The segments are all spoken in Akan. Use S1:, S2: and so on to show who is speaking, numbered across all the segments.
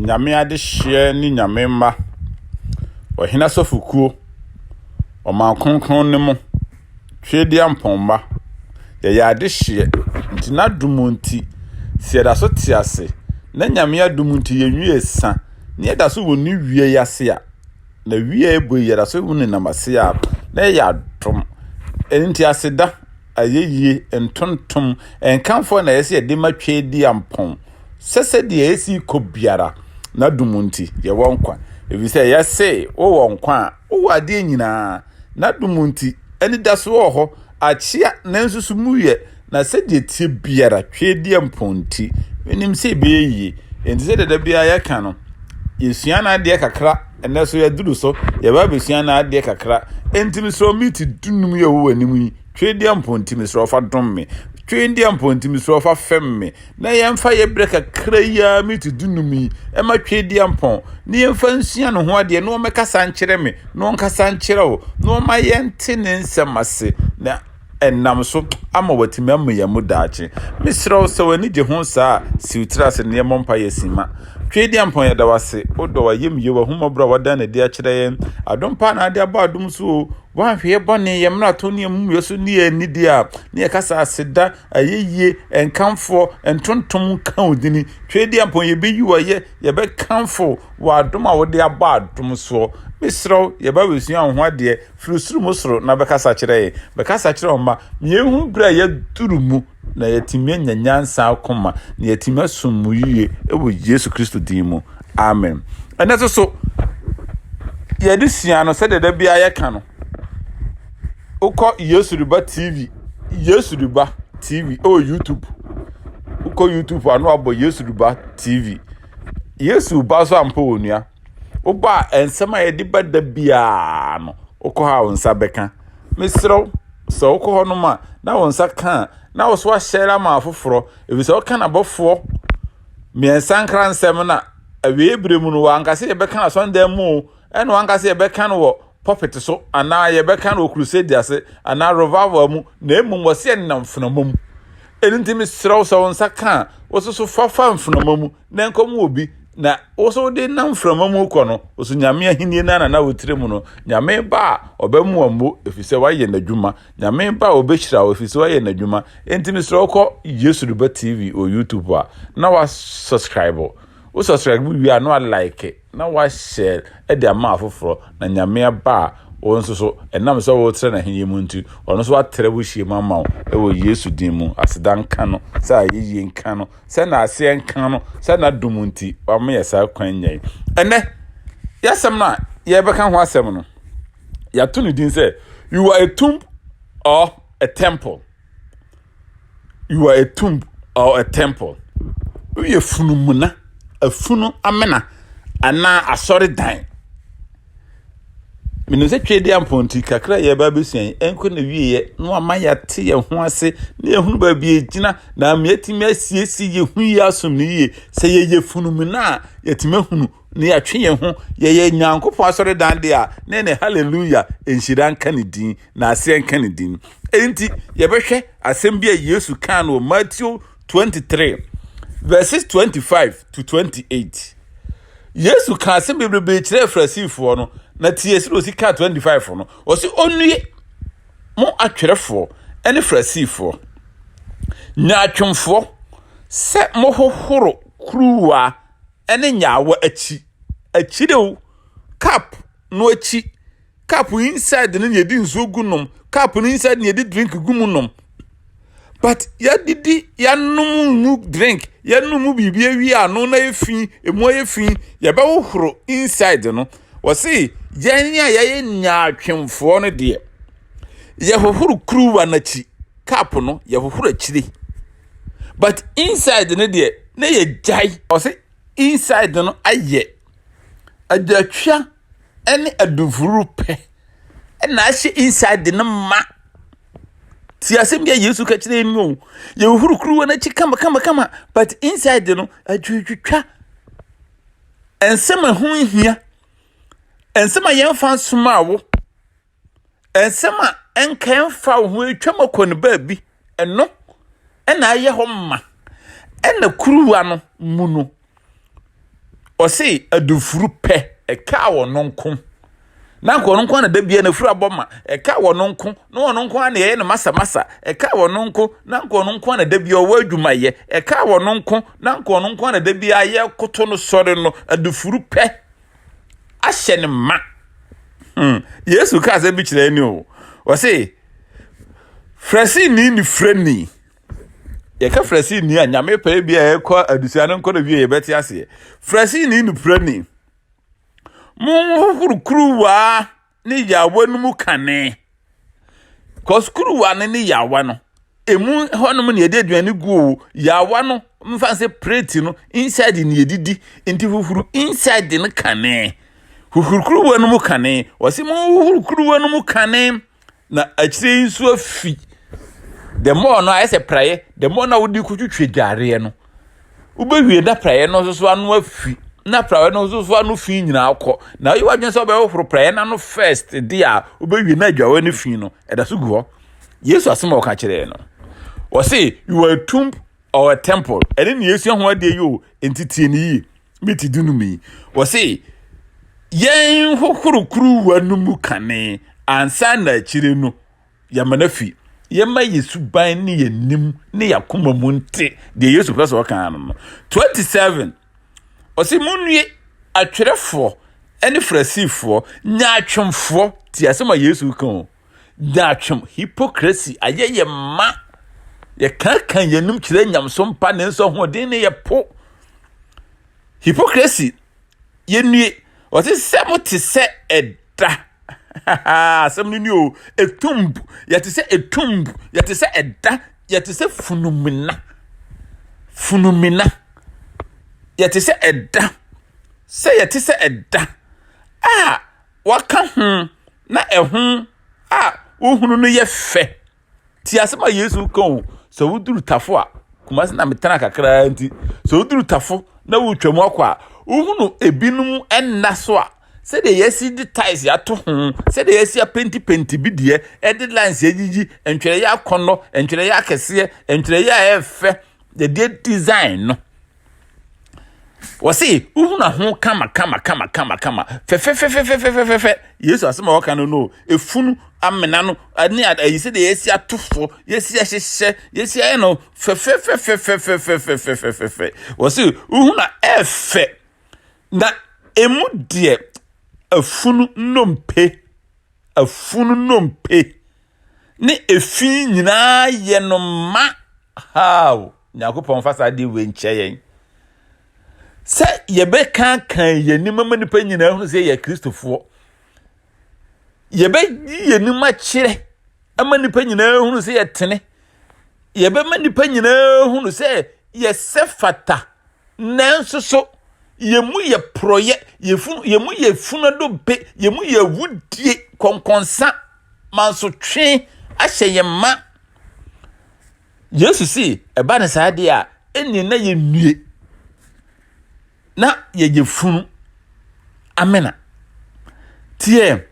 S1: Nyame adehyeɛ ne Nyame mma, ɔhene asɔfokuo, ɔman kronkron no mu, twedeɛ mpɔnma, yɛyɛ adehyeɛ, nti n'adom nti, sɛ yɛda so te ase, na Nyame adom nti yɛnwie sa, na yɛda so wɔ ne wie ase a. na wia ebo yi yɛda so hu ne nam ase a na ɛyɛ adom ɛno nti aseda ayɛyie ntontom nkamfoɔ na ɛsɛ yɛde ma twɛ di ampɔn sɛ sɛdeɛ ɛsi kɔ biara na dom nti yɛwɔ nkwa ɛfiri sɛ yɛse wowɔ nkwa a wowɔ adeɛ nyinaa na dom nti anidasoɔ wɔ hɔ akyea nanso so mu yɛ Na sɛdeɛ ɛteɛ biara, twedeɛ mpɔn nti, menim sɛ ɛbɛyɛ yie. Enti sɛdeɛ da biara yɛka no, yɛsua no adeɛ kakra, ɛnɛ so yɛaduru so, yɛba abɛsua no adeɛ kakra. Enti mesrɛ miti dunum yɛ wɔ w'anim yi, twedeɛ mpɔn nti mesrɛ ɔfa dom me, twedeɛ mpɔn nti mesrɛ ɔfa fɛm me, na yɛmfa yɛ berɛ kakra yi ara miti dunum yi, ɛma twedeɛ mpɔn, na yɛmfa nsua ne ho adeɛ, na wɔmɛkasa nkyerɛ me, na wɔnkasa nkyerɛ wo, na wɔma yɛnte ne nsɛm ase, na. ɛnam so ama wɔatumi ammua mu daakye. Mesrɛ wo, sɛ w'ani gye ho saa a, siw tiri ase na yɛmmɔ mpaeɛ simma. Tweediampɔn, yɛda wo ase, wo dɔ, w'ayamyie, w'ahummɔborɔ a woadan no adi akyerɛ yɛn. Adom paa na wode abɔ adom so o. Woanhwɛ yɛn bɔne, yɛn mmarato ne yɛn mumuyɛ so ne yɛn anidie a, na yɛka sɛ aseda, ayɛyie, nkamfoɔ, ntontom nka wo dini. Tweediampɔn, yɛbɛyi wo ayɛ, yɛbɛkamfo w'adom a wode abɔ adom soɔ. Mesrɛ wo, yɛba abɛsua wo ho adeɛ. firi soro mu soro na bɛkasa kyerɛ yɛn. Bɛkasa kyerɛ wɔn mma ma yɛhu berɛ a yɛaduru mu na yɛatumi anya nyansa akoma na yɛatumi asom mu yie wɔ Yesu Kristo din mu. Amen. Ɛnɛ nso so, yɛde sua no sɛdeɛ da biara yɛka no. Wokɔ Yesu Riba TV, Yesu Riba TV ɛwɔ YouTube. Wokɔ YouTube ano abɔ Yesu Riba TV. Yesu ba so ampa wɔ nua. woba a nsɛm a yɛde ba da biara no wokɔ hɔ a wo nsa bɛka mesrɛ wo sɛ wokɔ hɔ nom a na wo nsa ka a na wo so ahyɛ ama afoforɔ ɛfiri sɛ woka nabɔfoɔ mmiɛnsa nkra nsɛm no a awie berɛ mu no wankasa yɛbɛka no asɔndan mu o ɛna wankasa yɛbɛka no wɔ pɔpɛte so anaa yɛbɛka no wɔ crusade ase anaa revival mu na mmom wɔsɛ yɛnenam mfenama mu ɛno nti mesrɛ wo sɛ wo nsa ka a wososo fafa mfenama mu na nkɔm wɔ bi na wo so wode nam mframa mu kɔ no wo so nyame ahenni no anana wo tiri mu no nyame ba a ɔbɛmoa mmo ɛfiri sɛ woayɛ n'adwuma nyame ba a ɔbɛhyira wo ɛfiri sɛ woayɛ n'adwuma enti mesrɛ wokɔ yesu de ba tv wɔ youtube a na wa subscribe wo subscribe wie a na wa like na wahyɛ de ama afoforɔ, na Nyame Ba a wo nso so, ɛnam sɛ woretrɛ n'ahennie mu nti, ɔno nso atrɛ wo hyiamu ama wo, wɔ Yesu din mu, aseda nka no, sɛ ayɛyie nka no, sɛ naaseɛ nka no, sɛ n'adom nti wama yɛ saa kwan nya yi. Ɛnɛ, yɛasɛm no a yɛbɛka ho asɛm no, yɛato ne din sɛ, You are a tomb or a temple. You are a tomb or a temple. Woyɛ funumuna, afunu amena anaa asɔredan. Menim sɛ twɛdi ampɔnti kakra yɛ ba bɛsua yi ɛnkɔ na wieɛ na wama yɛate yɛn ho ase na yɛhunu baabi ɛgyina na ama yɛatumi asiesie yɛn ho yie asom no yie sɛ yɛyɛ funumuna a yɛatumi ahunu na yɛatwe yɛn ho yɛyɛ nyankopɔn asɔredan de a na ɛne hallelujah nhyira nka ne din na aseɛ nka ne din enti yɛbɛhwɛ asɛm bi a yesu kaa no wɔ matthew 23 verses 25 to 28 yesu kaa asɛm bebrebe kyerɛɛ farisifoɔ no na tie sɛ ɔsi kaa 25 no ɔse ɔnnue mo atwerɛfoɔ ne farisifoɔ nyaatwomfoɔ sɛ mohohoro kuruwa ne nyaawa akyi akyire o cup no akyi cup inside no na yɛde nsuo gu nom cup no inside na yɛde drink gu mu nom but yɛdidi yɛanom mu drink yɛanom mu biribi awie ano na yɛ fi emu ayɛ fi yɛbɛhohoro inside no wɔse yɛn a yɛyɛ nyaatwemfoɔ no deɛ yɛhohoro kuruwa no akyi cup no yɛhohoro akyire but inside no deɛ na yɛ gyae ɔsɛ inside no ayɛ adwatwa ɛne adufuru pɛ ɛna ahyɛ inside no ma ti asɛm bi a yesu ka kyerɛ yɛn o yɛ huru kuruwa n'akyi kama kama kama but inside no adwatwa nsɛm a ɛho hia nsɛm a yɛn fa nsoma awo nsɛm a ɛnka ɛmfa wo ho atwam akɔ no baabi ɛno ɛna ayɛ hɔ ma ɛna kuruwa no mu no ɔse adufuru pɛ ɛka wɔ no nko na nka ɔno nko na da bia na furu abɔ ma ɛka wɔ no nko na ɔno nko na ɛyɛ no masa masa ɛka wɔ no nko na nka ɔno nko na da bia ɔwɔ adwumayɛ ɛka wɔ no nko na nka ɔno nko na da bia yɛ koto no sɔre no adufuru pɛ ahyɛ no ma hmm. yesu kaa sɛ bi kyerɛ ni o ɔse frɛsini ne frɛni yɛka frɛsini a nyame pɛɛ bi a ɛkɔ adusua no nkɔ no wie yɛbɛte aseɛ frɛsini ne frɛni monhohoro kuruwaa ne yawa no mu kane because kuruwa no ne yawa no emu hɔnom na yɛde aduane gu o yawa no mfa sɛ plate no inside na yɛdidi nti huhuru inside no kane huhuru kuruwa no mu kane wɔsi mu huhuru kuruwa no mu kane na akyire yi nso afi the more no ayɛ sɛ praeɛ the more na wode kotwitwa dwareɛ no wobɛwie na praeɛ no nso so ano afi na praeɛ no nso so ano fi nyinaa kɔ na woyɛ w'adwene sɛ wobɛhohoro praeɛ no ano first de a wobɛwie na adwawa no fi no ɛda so gu hɔ yesu asɛm a ɔka kyerɛɛ no wɔse you are a tomb or a temple ɛne ne yɛsua ho adeɛ yi o nti tie ne yie meti du nom yi wɔse yɛn hohoro kuruwa no mu kane ansa na akyire no Yɛama no afi yɛma yɛ suban ne yɛn nim ne yɛn akoma mu nte deɛ Yesu pɛ sɛ ɔka no no. 27 ɔse monnue atwerɛfoɔ ne Farisifoɔ nyaatwomfoɔ ti asɛm a Yesu ka o nyaatwom hypocrisy ayɛ yɛ ma yɛkaka yɛn anom kyerɛ nyamesom pa nanso ahoɔden ne yɛ po hypocrisy yɛnnue. Ɔse sɛ mo te sɛ ɛda asɛm no ni o etumb yɛte sɛ etumb yɛte sɛ ɛda yɛte sɛ funumina funumina yɛte sɛ ɛda sɛ yɛte sɛ ɛda a waka ho na ɛho a wohunu no yɛ fɛ. ti asɛm a yesu ka o sɛ woduru tafo a kumase na metena kakraa nti sɛ woduru tafo na wotwam akɔ a wohunu ebinom nna so a sɛdeɛ yɛasi de tiles ato ho sɛdeɛ yɛasi apentipenti bi deɛ ɛde lines agyigyi ntwerɛeɛ akɔnnɔ ntwerɛeɛ akɛseɛ ntwerɛeɛ a ɛfɛ yɛde design no Wɔse wohunu aho kama kama kama kama kama fɛfɛfɛfɛfɛfɛfɛfɛ. Yesu asɛm a wɔka no no, efunu, amena no ne ayi sɛdeɛ yɛasi ato fo, yɛasi ahyehyɛ, yɛasi ayɛ no fɛfɛfɛfɛfɛfɛfɛfɛfɛfɛfɛ. Wɔse wohunu a ɛɛfɛ na emu deɛ afunu nnompe, afunu nnompe ne efi nyinaa yɛ no ma. Haaw! Nyankopɔn mfa saa adeɛ wei nkyɛ yɛn. Sɛ yɛbɛkankan yɛn anim ama nnipa nyinaa hunu sɛ yɛ Kristofoɔ. Yɛbɛyi yɛn anim akyerɛ ama nnipa nyinaa hunu sɛ yɛtene. Yɛbɛma nnipa nyinaa hunu sɛ yɛsɛ fata. Nanso so yɛn mu yɛ porɔyɛ, yɛn mu yɛ funadompe, yɛn mu yɛ awudie, kɔnkɔnsa, mansotwe ahyɛ yɛn ma. Yesu se ɛba ne saa deɛ a, ɛnneɛ na yɛnnue na yɛyɛ funu amena. Tiɛ,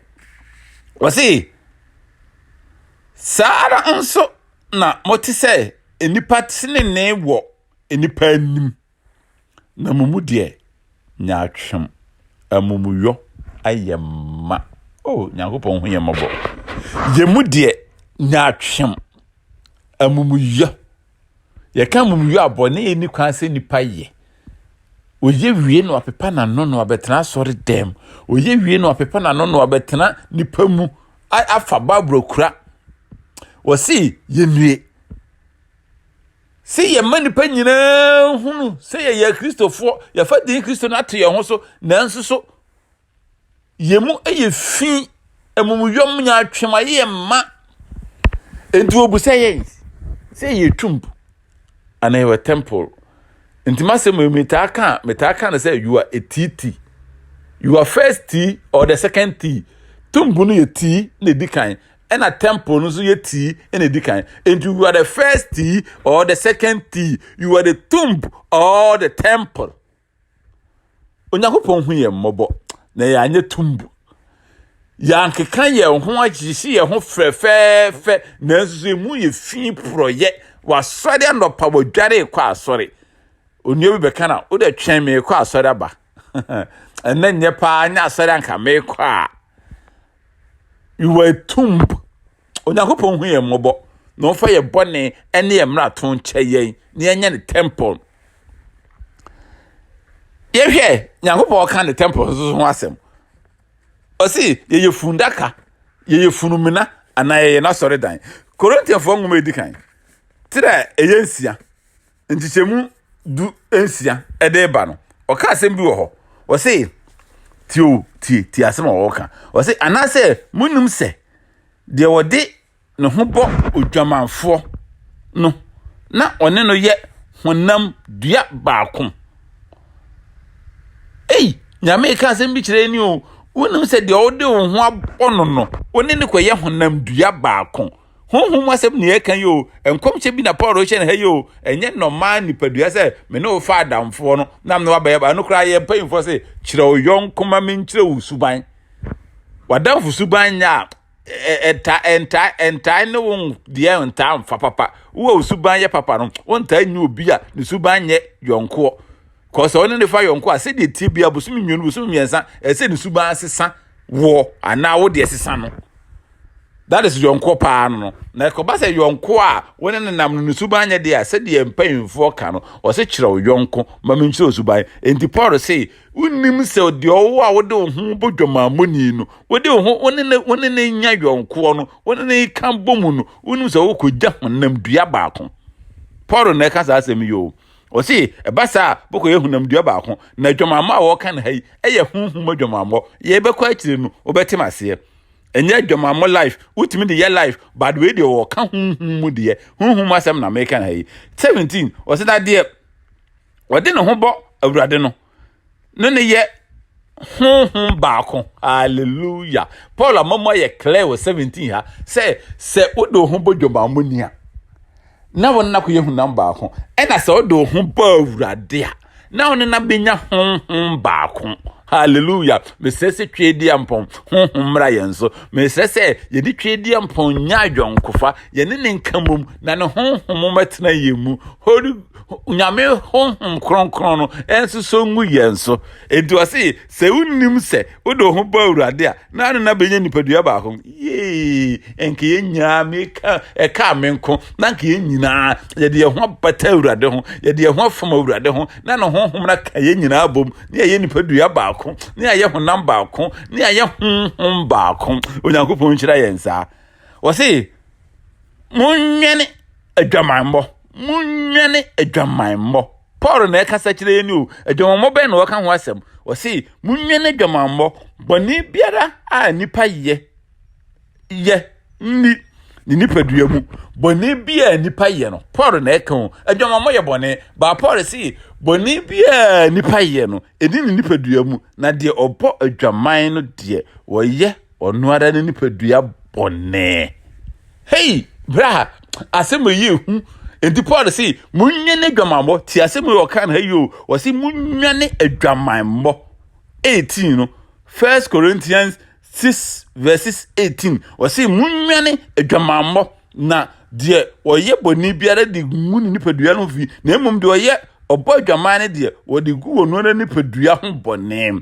S1: wɔse saa ara nso na mote sɛ nnipa tenenee wɔ nnipa anim. Na mo mu deɛ nyaatwem, amumuyɔ, ayɛ ma. O Nyankopɔn hu yɛn mmɔbɔ. Yɛn mu deɛ nyaatwem, amumuyɔ. Yɛka amumuyɔ a bɔne ni kwan sɛ nipa yɛ. Oye wie na wapepa n'ano na wabɛtena asɔre dɛm. Oye wie na wapepa n'ano na wabɛtena nipa mu afa Bible kura. Wɔsi yɛnue. Sɛ yɛma nnipa nyinaa hunu sɛ yɛyɛ akristofoɔ, yɛfa din kristo no ato yɛn ho so, nanso so yɛn mu yɛ fi, amumuyɔm nya atwem ayɛ yɛn mma. Enti wɔbusa yɛn sɛ yɛyɛ twump anaa yɛwɔ temple. Nti masɛm yi metaa ka metaa ka no sɛ you are a tea tea. Your first tea or the second tea. Tumbu no yɛ tea na edi kan. ɛna temple no nso yɛ tii ɛna edi kan nti you are the first tii or the second tii you are the tomb or the temple onyankopɔn hu yɛn mmɔbɔ na yɛn anyɛ tomb yɛankeka yɛn ho agyesi yɛn ho fɛfɛɛfɛ nanso so emu yɛ fi porɔyɛ wasɔre anɔpa wadware kɔ asɔre onua bi bɛka na wode twɛn me kɔ asɔre aba ɛnɛ nyɛ paa nyɛ asɔre anka mekɔ a Wɔ atum p, Onyankopɔn hu yɛn mmɔbɔ na ɔmfa yɛn bɔne ne yɛn mmarato nkyɛ yɛn na yɛnyɛ ne temple. Yɛhwɛ Nyankopɔn ka ne temple nso ho asɛm. Ɔsi yɛyɛ fundaka, yɛyɛ funumina anaa yɛyɛ n'asɔredan. Korintiafoɔ nwoma edi kan, ti dɛ ɛyɛ nsia. nkyekyɛmu du nsia de reba no, ɔka asɛm bi wɔ hɔ. Ɔse, tie o, tie, tie asɛm a ɔreka. Ɔse, anaasɛ monim sɛ deɛ ɔde ne ho bɔ odwamanfoɔ no, na ɔne no yɛ honam dua baako. Ei, Nyame reka asɛm bi kyerɛ ni o, wonim sɛ deɛ ɔde wo ho abɔ no no, ɔne no kɔyɛ honam dua baako. honhom mu asɛm ne yɛka yi o nkɔmhyɛ bi na paul rehyɛ no ha yi o ɛnyɛ nɔmaa nipadua sɛ me ne wo fa adamfoɔ no na me ne wabɛyɛ ba no koraa yɛ mpanyimfoɔ sɛ kyerɛ wo yɔnko ma menkyerɛ wo suban wadamfo suban nyɛ a ɛta ɛnta ɛntaa ne wo deɛ ntaa mfa papa wo a wo suban yɛ papa no wontaa nyɛ obi a ne suban nyɛ yɔnkoɔ kɔsɛ ɔne ne fa yɔnko a sɛdeɛ tie bia bosom mmienu bosom mmiɛnsa ɛsɛ ne suban sesa woɔ anaa wo deɛ sesa no that is yɔnko paa no no na ɛkɔba sɛ yɔnko a wo ne no nam no ne suban nyɛ deɛ a sɛdeɛ mpanyimfoɔ ka no ɔse kyerɛw yɔnko ma menkyerɛw suban enti paul se wonim sɛ deɛ ɔwo a wode wo ho bɔ dwamammɔni no wode wo ho wo ne ne wo ne ne nya yɔnkoɔ no wo ne ne ka bɔ mu no wonim sɛ wokɔgya honam dua baako paul na ɛka saa asɛm yi o ɔse ɛba saa a bɛkɔyɛ honam dua baako na adwamammɔ a wɔka no ha yi ɛyɛ honhom adwamammɔ yɛbɛkɔ akyire no wobɛtem aseɛ ɛnyɛ adwamammɔ life wotumi de yɛ life but wei deɛ wɔka honhom mu deɛ honhom mu asɛm na meka ha yi 17 ɔsɛ na deɛ ɔde ne ho bɔ awurade no ne ne yɛ honhom baako hallelujah paul amamu ayɛ clear wɔ 17 ha sɛ sɛ wode wo ho bɔ dwamammɔni a na wɔn nna kɔ yɛ honam baako, ɛna sɛ ɔde ho bɔ awurade a, na ɔne na bɛnya honhom baako hallelujah mesrɛ sɛ tweedia mpɔn honhom mmra yɛn so mesrɛ sɛ yɛde tweedia mpɔn nya adwankofa yɛne ne nka mmom na ne honhom mɛtena yɛn mu holy nyame honhom kronkron no ɛnso so ngu yɛn so ɛnti ɔse Sɛ wonnim sɛ wode wo ho bɔ Awurade a, na ano na benya nipadua baako. Yee! Nka yɛn nyinaa, meka, ɛkaa me nko, na nka yɛn nyinaa, yɛde yɛn ho abata Awurade ho, yɛde yɛn ho afam Awurade ho, na ne honhom no aka yɛn nyinaa bom, ne ayɛ nipadua baako, ne ayɛ honam baako, ne ayɛ honhom baako. Onyankopɔn nhyira yɛn saa. Wɔse, monwɛne adwamammɔ, monwɛne adwamammɔ. Paul na ɛkasa kyerɛ yɛn o adwamammɔ bɛn na ɔka ho asɛm ɔse monwɛn adwamammɔ bɔne biara a nipa yɛ yɛ nni ne nipadua mu bɔne biara nipa yɛ no Paul na ɛka o adwamammɔ yɛ bɔne baa Paul se bɔne biara nipa yɛ no ɛni ne nipadua mu na deɛ ɔbɔ adwaman no deɛ wɔyɛ Ɔno ara ne nipadua bɔne. Hei, bra, asɛm yi yɛ hu. Enti Paul se, monwene adwamammɔ. Ti asɛm yi ɔka no ha yi o. Ɔse, monwene adwamammɔ. 18 no, First Corinthians 6 verses 18. Ɔse, monwene adwamammɔ. Na deɛ ɔyɛ bɔne biara de ngu ne nipadua no ho fi, na mmom deɛ ɔyɛ ɔbɔ adwaman no deɛ, wɔde gu wɔn ara nipadua ho bɔne.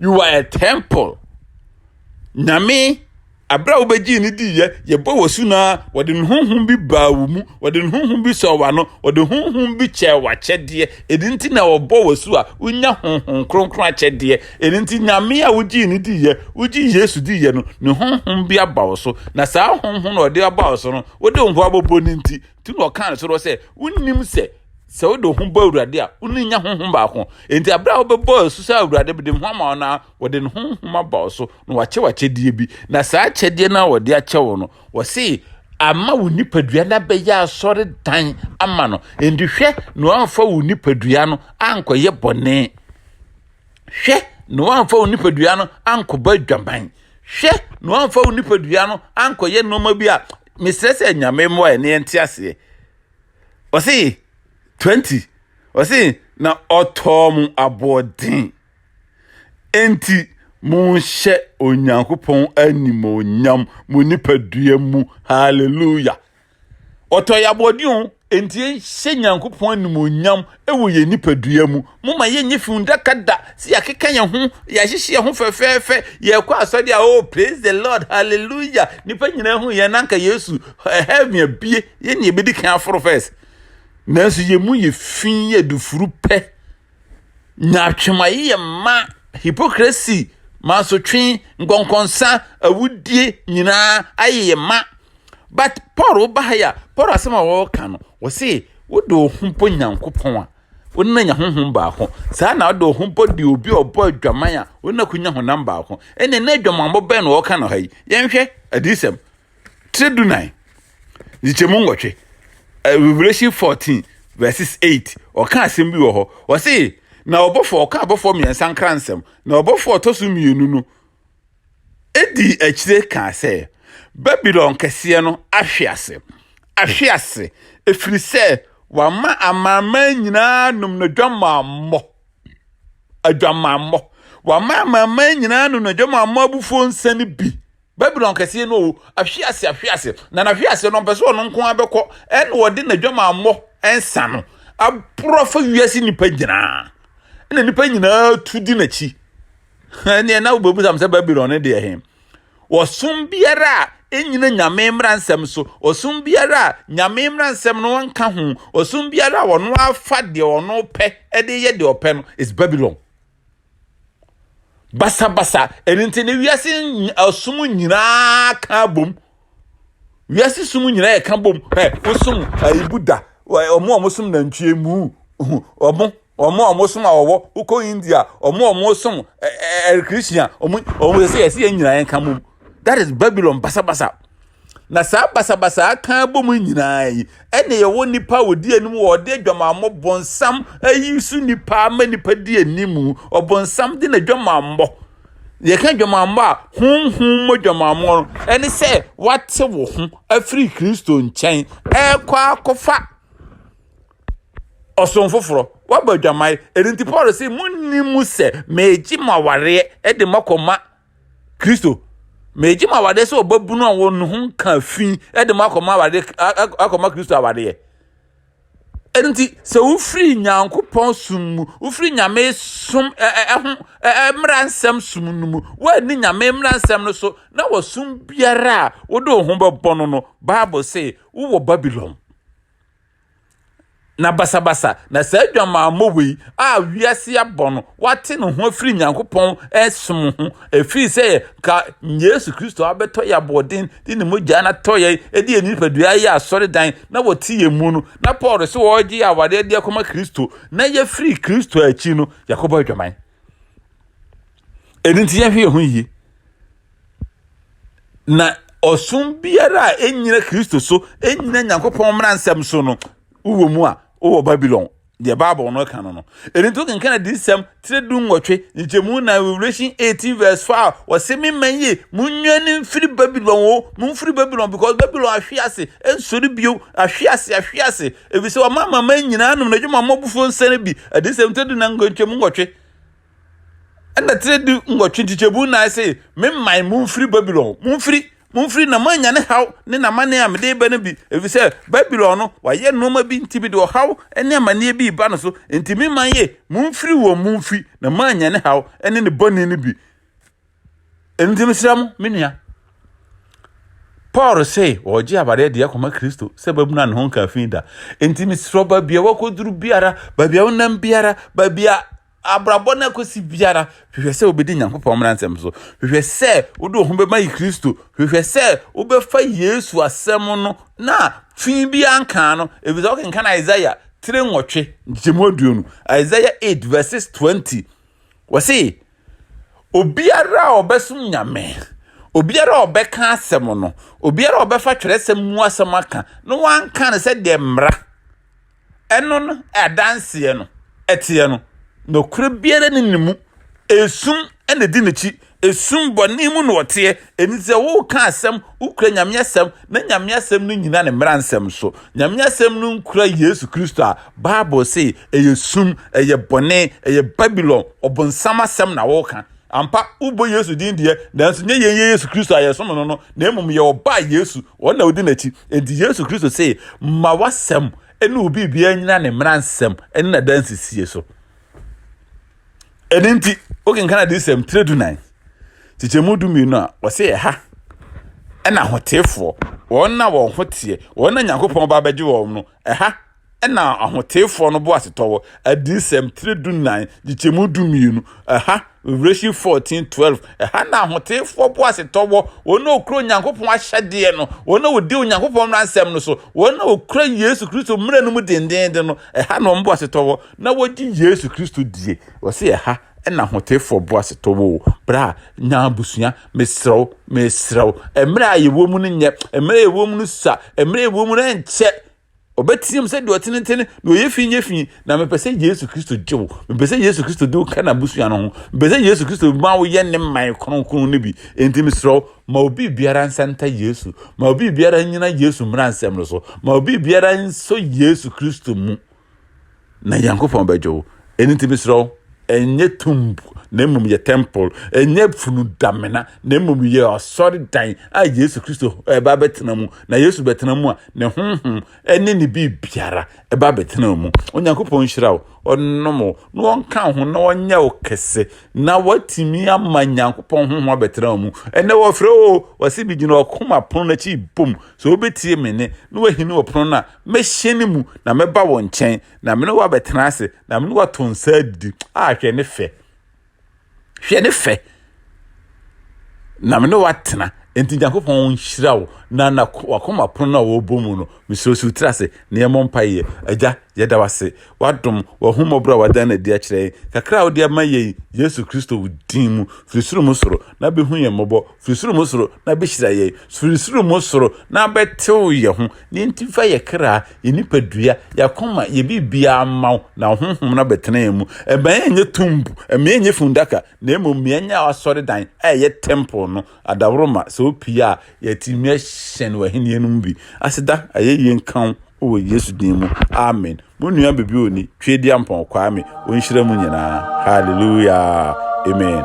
S1: you are a temple nyame abira wo bɛgye ne di yɛ yɛbɔ wɔ su na wɔde ne honhom bi baa wo mu wɔde ne honhom bi sɔ wa no wɔde honhom bi kyɛ wakyɛdeɛ ɛdi nti na wɔbɔ wɔ su a wonya honhom kronkron akyɛdeɛ ɛdi nti nyame a wogye ne di yɛ wogye yesu di yɛ no ne honhom bi aba wo so na saa honhom na ɔde aba wo so no wode wo ho abɔbɔ ne nti nti na ɔka ne soro sɛ wonim sɛ Sɛ wode wo ho bɔ Awurade a, wo ne nya honhom baako. Enti berɛ a wobɛbɔ asu sɛ Awurade bɛde ho ama wo no a, wɔde ne honhom aba wo so na wakyɛ w'akyɛdeɛ bi. Na saa akyɛdeɛ no a wɔde akyɛ wo no, wɔse ama wo nipadua no abɛyɛ asɔredan ama no. Enti hwɛ na wamfa wo nipadua no ankɔyɛ bɔne. Hwɛ na wamfa wo nipadua no ankɔbɔ adwaman. Hwɛ na wamfa wo nipadua no ankɔyɛ nneɛma bi a mesrɛ sɛ nyame mmoa ɛne ɛnte aseɛ. ɔse 20 ɔse na ɔtɔɔ mo aboɔden enti monhyɛ onyankopɔn animonyam mo nipadua mu hallelujah ɔtɔ yɛ aboɔden o enti yɛnhyɛ nyankopɔn animonyam wɔ yɛn nipadua mu. Momma yɛnyɛ fundaka da sɛ yɛakeka yɛn ho, yɛahyehyɛ yɛn ho fɛfɛɛfɛ, yɛrekɔ asɔre a, oh, praise the Lord, hallelujah, nnipa nyinaa hu yɛn na anka Yesu, heaven abie, yɛn na yɛbɛdi kan aforo first. Nanso yɛn mu yɛ fi, yɛ adufuru pɛ, nyaatwemaye yɛ mma, hypocrisy, mansotwe, nkɔnkɔnsa, awudie nyinaa ayɛ yɛn ma. But Paul woba ha yi a, Paul asɛm a wɔreka no, wɔse wode wo ho bɔ Nyankopɔn a, wo ne no anya honhom baako. Saa na wode wo ho bɔ deɛ obi a ɔbɔ adwaman a, wo ne no akɔnya honam baako. Ɛnneɛ na adwamammɔ bɛn na wɔreka no ha yi? Yɛnhwɛ Adiyisɛm tire dunan nkyekyɛmu nwɔtwe, Revelation 14 verses 8. Ɔka asɛm bi wɔ hɔ, wɔse na ɔbɔfoɔ ɔka abɔfoɔ mmiɛnsa nkransɛm, na ɔbɔfoɔ ɔtɔ so mmienu no dii akyire kaa sɛ, Babilon Kɛseɛ no ahwe ase, ahwe ase, ɛfiri sɛ wama amanaman nyinaa nom n'adwamammɔ, adwamammɔ, wama amanaman nyinaa nom n'adwamammɔ abufuo nsa no bi. Babilon Kɛseɛ no o, ahwe ase, ahwe ase, na n'ahwe ase no ɔmpɛ sɛ ɔno nko ara bɛkɔ, ɛna ɔde n'adwamammɔ nsa no aboro afa wiase nnipa nyinaa, ɛna nnipa nyinaa tu di n'akyi. ɛneɛ na wobɛbusam sɛ babilon no deɛ he ɔsom biara a ɛnyina nyame mmara nsɛm so ɔsom biara a nyame mmara nsɛm no nka ho ɔsom biara a ɔno afa deɛ ɔno pɛ ɛde yɛ deɛ ɔpɛ no is babilon basabasa ɛno nti ne wiase ɔsom nyinaa ka bom wiase som nyinaa yɛ ka bom ɛ wosom ɛyi buddha ɔmo a wɔsom nantwie mu ɔmo ɔmo a wɔsom awɔwɔ wokɔ india ɔmo a wɔsom ɛɛ christian ɔmo ɔmo yɛ sɛ yɛsɛ yɛn nyinaa yɛn ka bom that is babylon basabasa na saa basabasa aka bom nyinaa yi ɛna yɛwɔ nipa a wɔdi anim wɔ ɔde adwamammɔ bɔnsam ayi so nipa ama nipa di anim ɔbɔnsam de na adwamammɔ Yɛka adwamammɔ a, honhom mu adwamammɔ no, ɛne sɛ woate wo ho afiri Kristo nkyɛn ɛrekɔ akɔfa ɔsom foforɔ. Woabɔ adwaman. Ɛno nti Paul sɛ monni mu sɛ meegye mo awareɛ de mo akɔma Kristo. Meegye mo awareɛ sɛ ɔbabunu a wɔn ho nka fi de mo akɔma awareɛ akɔma Kristo awareɛ. Enti sɛ wofiri Nyankopɔn som mu, wofiri Nyame som ɛho mmara nsɛm som no mu, wɔanni Nyame mmara nsɛm no so, na wɔsom biara a wode wo ho bɛbɔ no no, Bible se wowɔ Babylon. Na basabasa na saa adwamammɔ wei a wiase abɔ no, wate ne ho afiri Nyankopɔn som ho, ɛfiri sɛ ka Yesu Kristo abɛtɔ yɛ aboɔden de ne mogya no atɔ yɛ de yɛ nipadua yɛ asɔredan na wɔte yɛn mu no na paul sɛ wɔregye yɛ awadeɛ de akɔma kristo na yɛfiri kristo akyi no yɛakɔbɔ adwaman ɛno nti yɛhwɛ yɛn ho yie na ɔsom biara a ɛnyina kristo so ɛnyina nyankopɔn mmara nsɛm so no wowɔ mu a wowɔ babylon deɛ bible no ka no no ɛno nti wokenkan adiyisɛm tire du nwɔtwe nkyɛmu na revelation 18 verse 5 wɔse me ma yie monwane mfiri babylon o momfiri babylon because babylon ahwe ase ɛnsɔre bio ahwe ase ahwe ase ɛfiri sɛ wɔma mama nyinaa nom n'adwuma mmɔbofoɔ nsɛne bi adiyisɛm tire du na nkyɛmu nwɔtwe Ɛnna tire du nwɔtwe nkyekyɛmu nnan se, Me man, momfiri Babilon, momfiri, momfiri, na moannya ne haw ne n'amanneɛ a mede reba no bi, ɛfiri sɛ Babilon no, wayɛ nneɛma bi nti mede ɔhaw ne amanneɛ bi reba ne so, enti me man ye, momfiri wɔn, momfiri, na moannya ne haw ne ne bɔne no bi. Enti mesrɛ mo, me nua, Paul se ɔregye awadeɛ deɛ kɔma Kristo sɛ babunu a ne ho nka fi da. Enti mesrɛ baabi a wakɔduru biara, baabi a wonam biara, baabi a abrabɔ no akosi biara hwehwɛ sɛ wobɛdi nyankopɔn mmara nsɛm so hwehwɛ sɛ wode wo ho bɛma yi kristo hwehwɛ sɛ wobɛfa yesu asɛm no na fi biara nkaa no ɛfiri sɛ wokenkan isaia tire nwɔtwe nkyɛmu aduonu isaia 8 verses 20 wɔse obiara a ɔbɛsom nyame obiara a ɔbɛka asɛm no obiara a ɔbɛfa twerɛsɛm mu asɛm aka na wanka no sɛ deɛ mmara ɛno no adanseɛ no ɛteɛ no, nokorɛ biara ni ne mu, ɛsum na ɛdi n'akyi, ɛsum bɔne mu na ɔteɛ, ɛni sɛ woka asɛm, wokura Nyame asɛm, na Nyame asɛm no nyina ne mmara nsɛm so, Nyame asɛm no nkura Yesu Kristo a, Bible se ɛyɛ sum, ɛyɛ bɔne, ɛyɛ Babylon, ɔbonsam asɛm na woka. Ampa, wobɔ Yesu din deɛ, nanso nyɛ yɛn yɛ Yesu Kristo a yɛsom no no, na mmom yɛwɔ Ɔba a Yesu, wɔn na wodi n'akyi. Enti Yesu Kristo se, Ma w'asɛm ne wo biribiara nnyina ne mmaransɛm ne n'adansesie so. Ɛno nti, wokenkan Adiyisɛm tire dunan, kyekyɛmu dumienu a, wɔse ɛha na ahoteefoɔ, wɔn a wɔn ho teɛ, wɔn a Nyankopɔn ba abɛgye wɔn no, ɛha na Ahoteefoɔ no boasetɔ wɔ, Adiyisɛm tire du-nnan, gyekyɛmu du-mmienu, ɛha, Revelation fourteen twelve, ɛha na Ahoteefoɔ boasetɔ wɔ, wɔn a wɔkura Onyankopɔn ahyɛdeɛ no, wɔn a wɔdi Onyankopɔn mmaransɛm no so, wɔn a wɔkura Yesu Kristo mmara no mu dendeenden no, ɛha na wɔn boasetɔ wɔ, na wɔgye Yesu Kristo die. Wɔse ɛha na Ahoteefoɔ boasetɔ wɔ o. Bra, nya abusua, mesrɛ wo, mesrɛ wo. Mmerɛ a yɛwɔ mu no nyɛ, mmerɛ a yɛwɔ mu no sua, mmerɛ a yɛwɔ mu no nkyɛ. Ɔbɛteam sɛ deɛ ɔtenetene na ɔyɛ fi nyɛ fi na mepɛ sɛ Yesu Kristo gye wo. Mepɛ sɛ Yesu Kristo de wo ka n'abusua no ho. Mepɛ sɛ Yesu Kristo ma woyɛ ne mman kronkron no bi. Enti mesrɛ wo, ma obi biara nsanta Yesu. Ma obi biara nnyina Yesu mmaransɛm no so. Ma obi biara nsɔ Yesu Kristo mu. na Nyankopɔn bɛgye wo. Ɛno nti mesrɛ wo, ɛnyɛ tomb na mmom yɛ temple, ɛnyɛ funu damena na mmom yɛ asɔredan a Yesu Kristo ɛba bɛtena mu. Na Yesu bɛtena mu a, ne honhom ɛne ne biribiara ɛba bɛtena mu. Onyankopɔn nhyira wo, ɔnnom wo, na ɔnka ho na ɔnyɛ wo kɛse, na watumi ama Nyankopɔn honhom abɛtena wo mu. Ɛnɛ wɔfrɛ o, wɔse bi gyina ɔkoma pono n'akyi bom, Sɛ wobetie me nne na wɔahini wɔ pon no a, mɛhyɛn ne mu na mɛba wɔn nkyɛn, na me ne wo abɛtena ase, na me ne wo ato nsa adidi. A, hwɛ ne fɛ! Hwɛ ne fɛ! Na me ne wo atena. Enti Nyankopɔn nhyira wo na na wakoma pon no a wɔrebɔ mu no, mesrɛ si wo tiri ase na yɛmmɔ mpaeɛ. Agya, yɛda wo ase, w'adom, w'ahummɔborɔ a w'ada no adi akyerɛ yɛn, kakra a wode ama yɛn yi, Yesu Kristo wo din mu, firi soro mu soro, na bɛhu yɛn mmɔbɔ Firi soro mu soro na bɛhyira yɛn, firi soro mu soro na bɛtew yɛn ho, na enti fa yɛn kra, yɛn nipadua, yɛn akoma, yɛn biribiara mma wo, na wo honhom no abɛtena yɛn mu. Mma yɛnyɛ tumb, mma yɛnyɛ funnaka, na mmom ma yɛnyɛ w'asɔredan a ɛyɛ temple no adaworoma, sɛ opue a, yɛatumi ahyɛn w'ahenni no mu bi. Aseda, ayɛyie nka wo, Wɔ Yesu din mu, amen. Mo nua biribi ɔni, Tweediampɔn Kwame, ɔnhyira mu nyinaa. Hallelujah, amen.